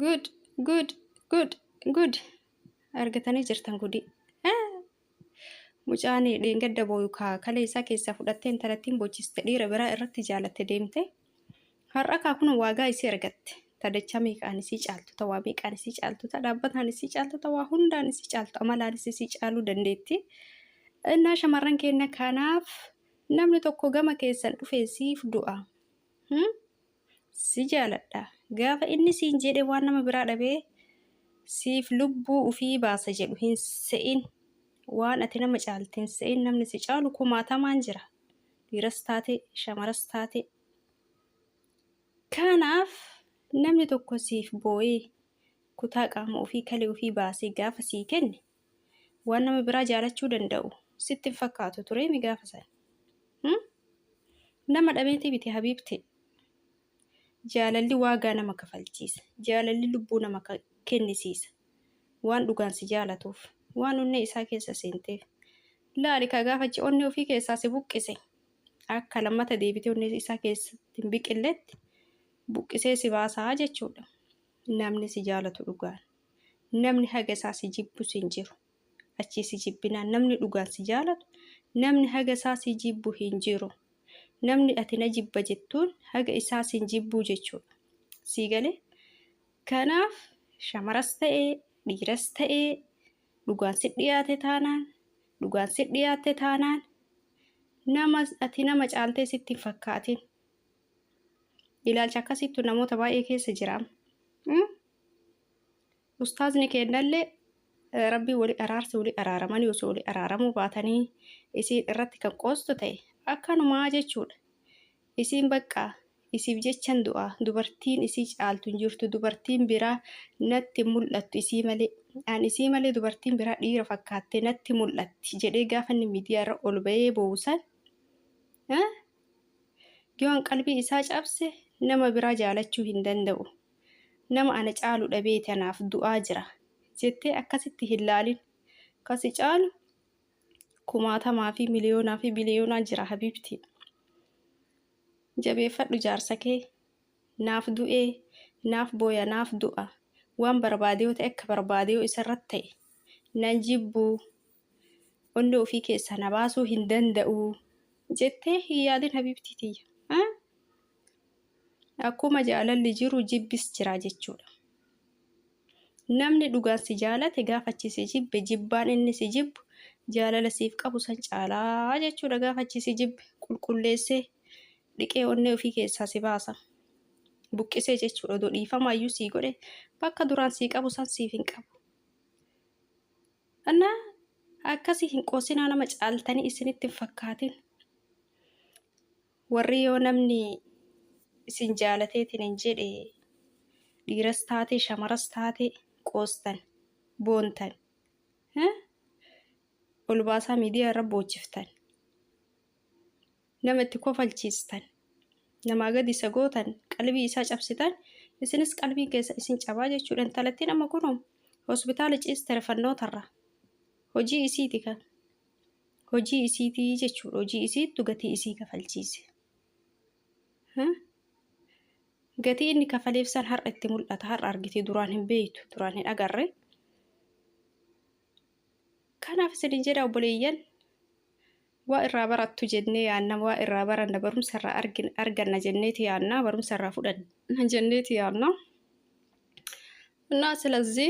Good, good, good, good. Argatanii jirtan gudii. Ah! Mucaan dheengadda booyu kaa kalee isaa keessaa fudhattee intalattiin bochiste dhiira biraa irratti jaalatte deemte. Har'a kaa kun waagaa isii argatte. Tadachaa meeqaan isii caaltu ta waa meeqaan isii caaltu ta dhaabbataan isii caaltu ta waa hundaan isii caaltu amalaanis isii caaluu dandeetti. Innaa shamarran keenya kanaaf namni tokko gama keessan dhufee siif du'a. Hmm? si jaaladha gaafa inni siin jedhe waan nama biraa dhabee siif lubbuu ufii baasa jedhu hin se'in waan ati nama caalti hin se'in namni si caalu kumaatamaan jira dhiiras taate shamaras taate kanaaf namni tokko siif boo'ee kutaa qaama ufii kalee ufii baasee gaafa sii kenne waan nama biraa jaalachuu danda'u sitti hin fakkaatu turee mi gaafa san hmm? nama dhabeetii biti habiibti jaalalli waagaa nama kafalchiisa jaalalli lubbuu nama kennisiisa waan dhugaan si jaalatuuf waan onnee isaa keessa seenteef laali ka gaafachi onnee ofii keessaa si buqqise akka lammata deebitee onnee isaa keessatti hin biqilletti buqqisee si baasaa jechuudha namni si jaalatu dhugaan namni haga isaa si jibbus hin jiru. Achii si jibbinaan namni dhugaan si jaalatu namni haga isaa si jibbu hin jiru. Namni ati na jibba jettuun haga isaa sin jibbuu jechuudha. Sii galee? Kanaaf shamaras ta'e dhiiras ta'e dhugaan si dhiyaate taanaan dhugaan si dhiyaatte taanaan nama ati nama caaltee sitti hin fakkaatin. Ilaalcha akkasiittu namoota baay'ee keessa jiraam. ustaazni keennallee rabbii wali araarse wali araaramanii osoo wali araaramuu baatanii isiin irratti kan qoostu ta'e akkanumaa jechuudha isiin baqqaa isiif jechan du'aa dubartiin isii caaltu hin jirtu dubartiin biraa natti hin mul'attu isii malee an isii malee dubartiin biraa dhiira fakkaatte natti mul'atti jedhee gaafa inni miidiyaa irra ol ba'ee boosan yoon qalbii isaa cabse nama biraa jaalachuu hin danda'u Nama ana caalu dhabeeti anaaf du'aa jira jettee akkasitti hin laalin. Ka si caalu kumaatamaa fi miliyoonaa fi biliyoonaa jira habiibtii. Jabeeffadhu jaarsa kee. Naaf du'ee, naaf booya, naaf du'a. Waan barbaade yoo ta'e akka barbaade yoo isarratti ta'e nan jibbu. Onnee ofii keessaa na baasuu hin danda'u jettee hin yaadin habiibtii tiyya. Akkuma jaalalli jiru jibbis jira jechuudha. Namni dhugaan si jaalate gaafa achi si jibbe jibbaan inni si jibbu jaalala siif qabu san caalaa jechuudha gaafa achi si jibbe qulqulleessee dhiqee onnee ofii keessaa si baasa. Buqqisee jechuudha odoo dhiifamaa iyyuu sii godhe bakka duraan sii qabu san siif hin qabu. Anna akkasii hin qoosinaa nama caaltanii isinitti hin fakkaatin. Warri yoo namni isin jaalateetinin jedhe dhiiras taate shamaras taate qoostan, boontan, eh, ol baasaa miidiyaa irra boochiftan, nama itti kofalchiistan, namaa gadi isa gootan, qalbii isaa cabsitan, isinis qalbiin keessa isin cabaa jechuudha. Intalattiin amma kunoo hospitaala ciiste rifannootarra. Hojii isiiti kan. hojii isiiti jechuudha hojii isiittu gatii isii kafalchiise gatii inni kafaleef san har'a itti mul'ata har'a argitee duraan hin beeytu duraan hin agarre kanaaf isinin jedha obboleeyyan waa irraa barattu jennee yaanna waa irraa baranna barumsa irraa arganna jenneeti yaanna barumsa irraa fudhanna jenneeti yaanna እና ስለዚህ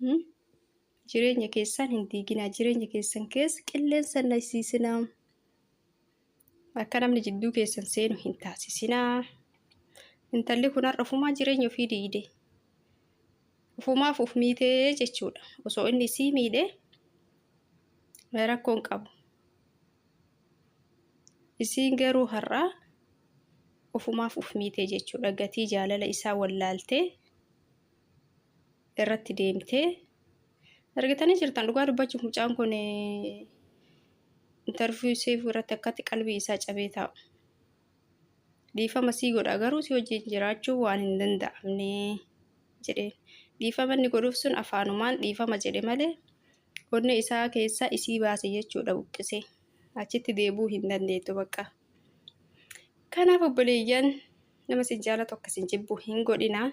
Hmm? Jireenya keessan hin diiginaa. Jireenya keessan keessa qilleensa hin naqsiisinaa. Akka namni jidduu keessan seenu hin taasisinaa. Intalli kun har'a ofumaa jireenya ofii diigde. Ofumaaf of miitee jechuudha. Osoo inni isii miidhee rakkoon qabu. Isiin garuu har'aa ofumaaf of miitee jechuudha. Gatii jaalala isaa wallaaltee irratti deemtee argitanii jirtan dhugaa dubbachuuf mucaan kun intarviyu seef irratti akkatti qalbii isaa cabee taa'u dhiifama sii godha garuu si wajjin jiraachuu waan hin danda'amne jedheen dhiifama inni godhuuf sun afaanumaan dhiifama jedhe malee onnee isaa keessaa isii baase jechuudha buqqise achitti deebuu hin dandeettu bakka kanaaf obboleeyyan nama sin jaalatu akka sin jibbu hin godhinaa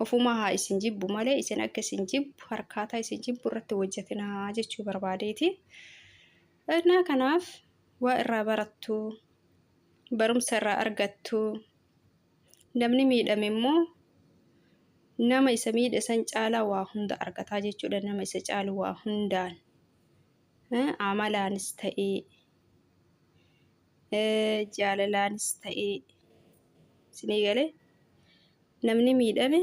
ofumaa haa isin jibbu malee isin akka isin jibbu harkaataa isin jibbu irratti hojjetinaa jechuu barbaadeeti. Innaa kanaaf waa irraa barattu, barumsa irraa argattu, namni miidhame immoo nama isa miidhe san caalaa waa hunda argataa jechuudha nama isa caalu waa hundaan amalaanis ta'ee jaalalaanis ta'ee sinii gale namni miidhame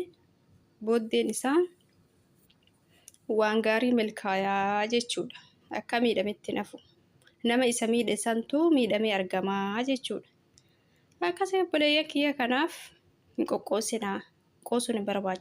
booddeen isaa waan gaarii milkaayaa jechuudha. Akka miidhametti nafu nama isa miidhe santu miidhamee argamaa jechuudha. Akkasii obboleeyyan kiyya kanaaf hin qoqqoosinaa qoosuun hin barbaachisu.